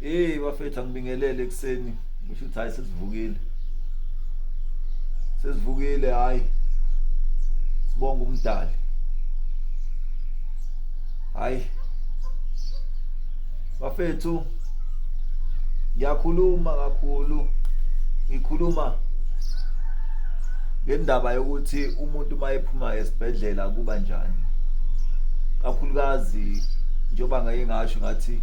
Hey bafethu angibingelele ekuseni ngisho ukuthi hayi sesivukile sesivukile hayi sibonga umdali hayi bafethu ngiyakhuluma kakhulu ngikhuluma ngendaba yokuthi umuntu uma ephuma esibhedlela kuba njani kakhulukazi njengoba ngaye ngasho ngathi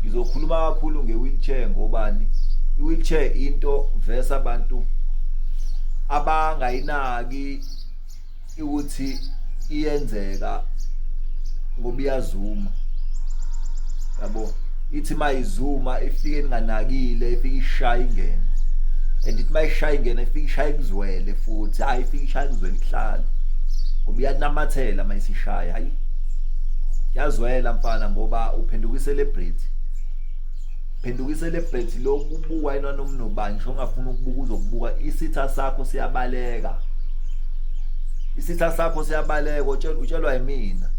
ngizokhuluma kakhulu nge-wheelchair ngobani i-wheelchair into vesa abantu abangayinaki ukuthi iyenzeka ngoba iyazuma yabo ithi mayizuma ifike ninganakile ifike ishaya ingene and ithi mayishaya ingene ifike ishaya kuzwele futhi hayi ifike ishaya kuzwele ihlala ngoba iyanamathela mayisishaya hayi yazwela mfana ngoba uphenduka celebrity phenduka celebrity lokubuka yena nomnobani ngisho ongafuna ukubuka uzokubuka isitha sakho siyabaleka isitha sakho siyabaleka utshelwa yimina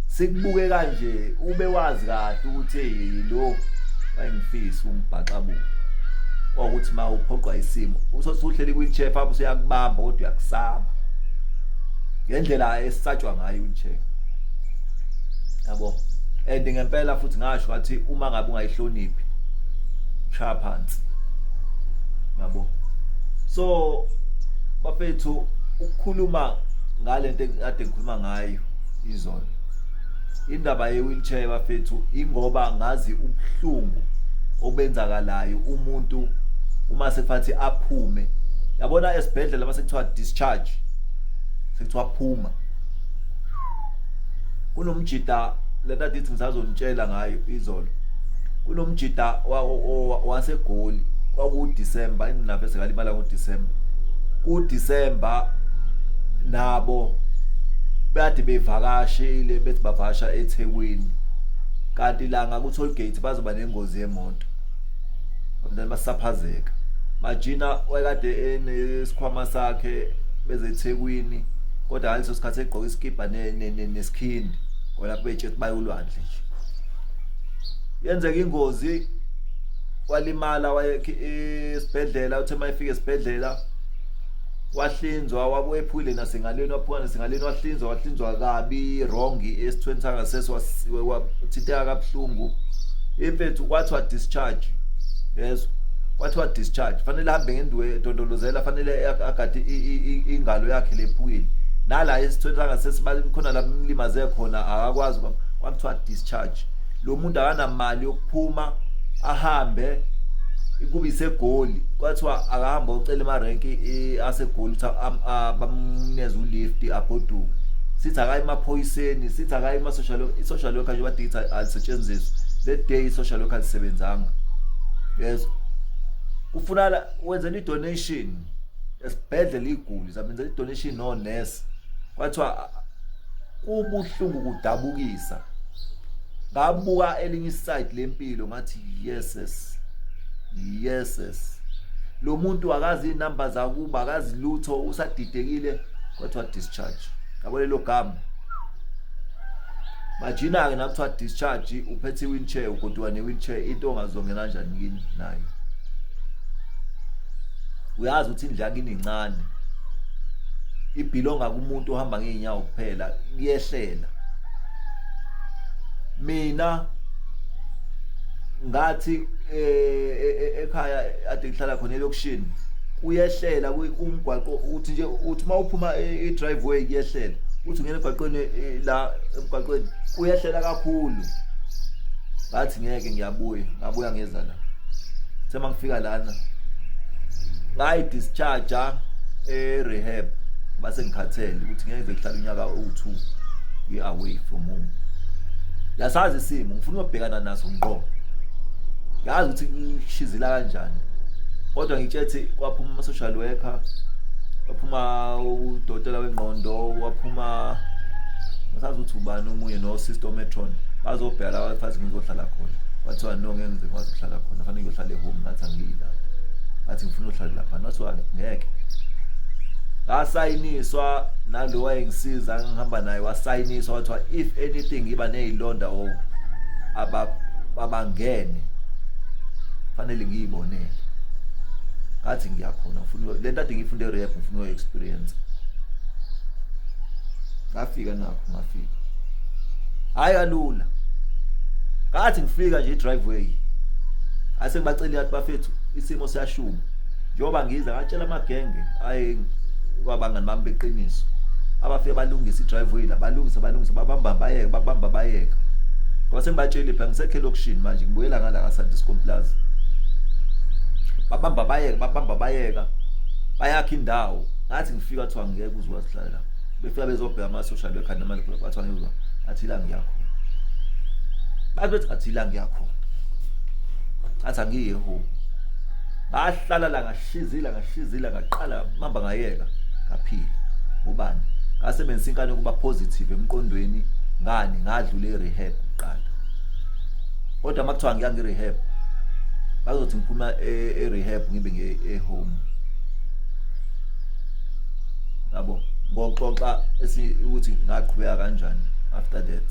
sikubuke kanje ube wazi kahle ukuthi yilo wayengifisa umbhaxabuka kwakuthi ma uphoqwa isimo usosuhleli kwi-chair phambi usuyakubamba kodwa uyakusaba ngendlela esatshwa ngayo i-chair yabo and ngempela futhi ngasho ngathi uma ngabe ungayihloniphi shaya phansi yabo so bafethu ukukhuluma ngalento ekade ngikhuluma ngayo izolo indaba ye-wheelchair bafethu ingoba ngazi ubuhlungu obenzakalayo umuntu uma sekufathi aphume yabona esibhedlela uma sekuthiwa discharge sekuthiwa phuma kunomjita lento adithi ngisazonitshela ngayo izolo kunomjita wasegoli kwakuwuDisemba inginaphe sekalimala ngoDisemba kuDisemba nabo bathi bevakashile bethi bavasha eThekwini kanti la ngakuToll Gate bazoba nengozi yemoto abantwana basaphazeka majina wayekade enesikhwama sakhe beze eThekwini kodwa ngaleso sikhathi egqoke isikibha nesikhindi kona kubetshe ukuthi bayolwandle nje yenzeka ingozi walimala esibhedlela uthe uma efika esibhedlela wahlinzwa wabuye ephukile nasengalweni waphuma nasengalweni wahlinzwa wahlinzwa kabi wrong esithweni sangasese wathinteka kabuhlungu imfethu kwathiwa discharge yezwa kwathiwa discharge fanele ahambe ngendiwe dondolozela fanele agade ingalo yakhe lephukile nala esithweni sangasese khona la mlimaze khona akakwazi kwakuthiwa discharge lo muntu akanamali yokuphuma ahambe kube isegoli kwathiwa akahamba ocela emarenki asegoli ukuthi bamneze ulift agoduke sithi akayi emaphoyiseni sithi akayi kuma-social i-social worker nje badithi alisetshenziswa that day i-social worker alisebenzanga yes kufunala wenzela i-donation esibhedlela iy'guli zabenzela i-donation no-nurse kwathiwa kubuhlungu kudabukisa ngabuka elinye iside lempilo ngathi yeses yeses lo muntu akazi inamba zakuba akazi lutho usadidekile kwathiwa discharge yabo lelo gama majina-ke nakuthiwa discharge uphethe i-wheelchair ugoduka ne-wheelchair into ongazongena njani kini nayo uyazi ukuthi indlu yakini incane ibhilonga kumuntu ohamba ngeenyawo kuphela kuyehlela mina ngathi e, e, e, ekhaya ade ngihlala khona elokishini kuyehlela umgwaqo uthi nje uthi uma uphuma i-driveway kuyehlela uthi ungena emgwaqweni la emgwaqweni uyehlela kakhulu ngathi ngeke ngiyabuya ngabuya ngeza la sema ngifika lana ngayi discharge e rehab base ngikhathele ukuthi ngeke ngihlala unyaka u2 we away from home yasazi isimo ngifuna ukubhekana naso ngqo yazi ukuthi ngishizila kanjani kodwa ngitshethi kwaphuma ama social worker waphuma udokotela wengqondo waphuma ngasazi ukuthi ubani omunye nosister ometron bazobheka la bafazi ngizohlala khona wathiwa no ngeke ngize ngikwazi ukuhlala khona fanele ngiyohlala ehome ngathi angiyi la ngathi ngifuna uhlala lapha nothiwa ngeke ngasayiniswa nalo wayengisiza ngihamba naye wasayiniswa wathiwa if anything iba nezilonda o abangene fanele ngiyibonele ngathi ngiyakhona ngifuna lento ade ngifunde rehab ngifuna uyo experience ngafika nakho ngafika hayi kalula ngathi ngifika nje driveway ase ngibacela yathi bafethu isimo siyashuma njengoba ngiza ngatshela amagenge ayi kwabangani bami beqiniso abafike balungisa idriveway la balungisa balungisa babamba bayeka babamba bayeka kwase ngibatshela pha ngisekhe lokushini manje ngibuyela ngala ka Sandiscom Plaza babamba bayeka babamba bayeka bayakha indawo ngathi ngifika kuthiwa ngeke uzwazi hlala befika bezobheka amasosha bekhanda manje bathiwa ngizwa athi la ngiyakho bathi bethi athi la ngiyakho athi angiye home bahlala la ngashizila ngashizila ngaqala mamba ngayeka ngaphila ubani ngasebenzisa inkani ukuba positive emqondweni ngani ngadlula irehab kuqala kodwa makuthiwa ngiya ngirehab bazothi ngiphuma e-, erehab ngibe nge-home yabo ngoxoxa ukuthi ngaqhubeka kanjani after that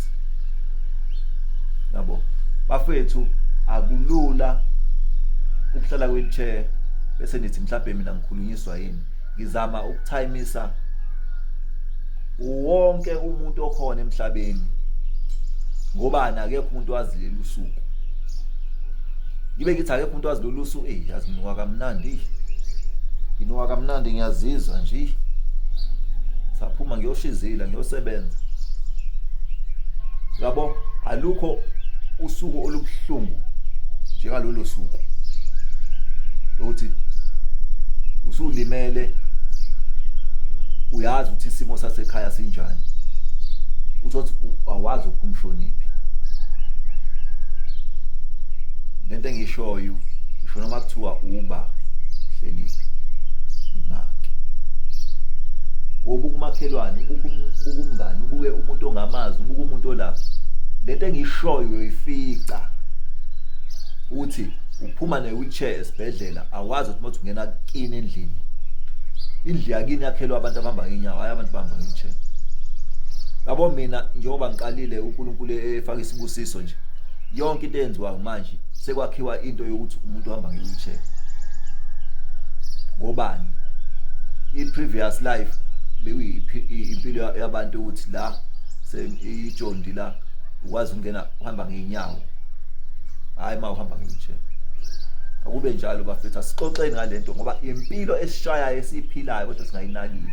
yabo bafethu akulula ukuhlala kwichair bese nithi mhlawumbe mina ngikhulunyiswa yini ngizama ukuthayimisa wonke umuntu okhona emhlabeni ngoba akekho umuntu wazileli usuku ngibe ngithi akekho umuntu wazileli usuku eyi yazi nginuka kamnandi nginuka kamnandi ngiyazizwa nje saphuma ngiyoshizila ngiyosebenza yabo alukho usuku olubuhlungu njengalolo suku lokuthi usulimele uyazi ukuthi isimo sasekhaya sinjani uthothi awazi uphumshoniphi engiyishoyo ngisho noma kuthiwa uba hleliphi imake ubuka umakhelwane ubuka umngani ubuke umuntu ongamazi ubuka umuntu olapha lento engiyishoyo uyoyifica uthi uphuma ne-wheelchair esibhedlela awazi ukuthi mothi ungena kini endlini indlu yakini yakhelwa abantu abahamba ngenyawo hhayi abantu bahamba nge-wheelchair yabo mina njengoba ngiqalile uNkulunkulu efaka isibusiso nje yonke into eyenziwayo manje sekwakhiwa into yokuthi umuntu uhamba nge-wheelchair ngobani i-previous life bekuyimpilo yabantu ukuthi la seyijondi la ukwazi ukungena uhamba ngeenyawo hhayi uma uhamba nge-wheelchair akube njalo bafethu asixoxeni ngalento ngoba impilo esishayayo esiyiphilayo kodwa singayinakile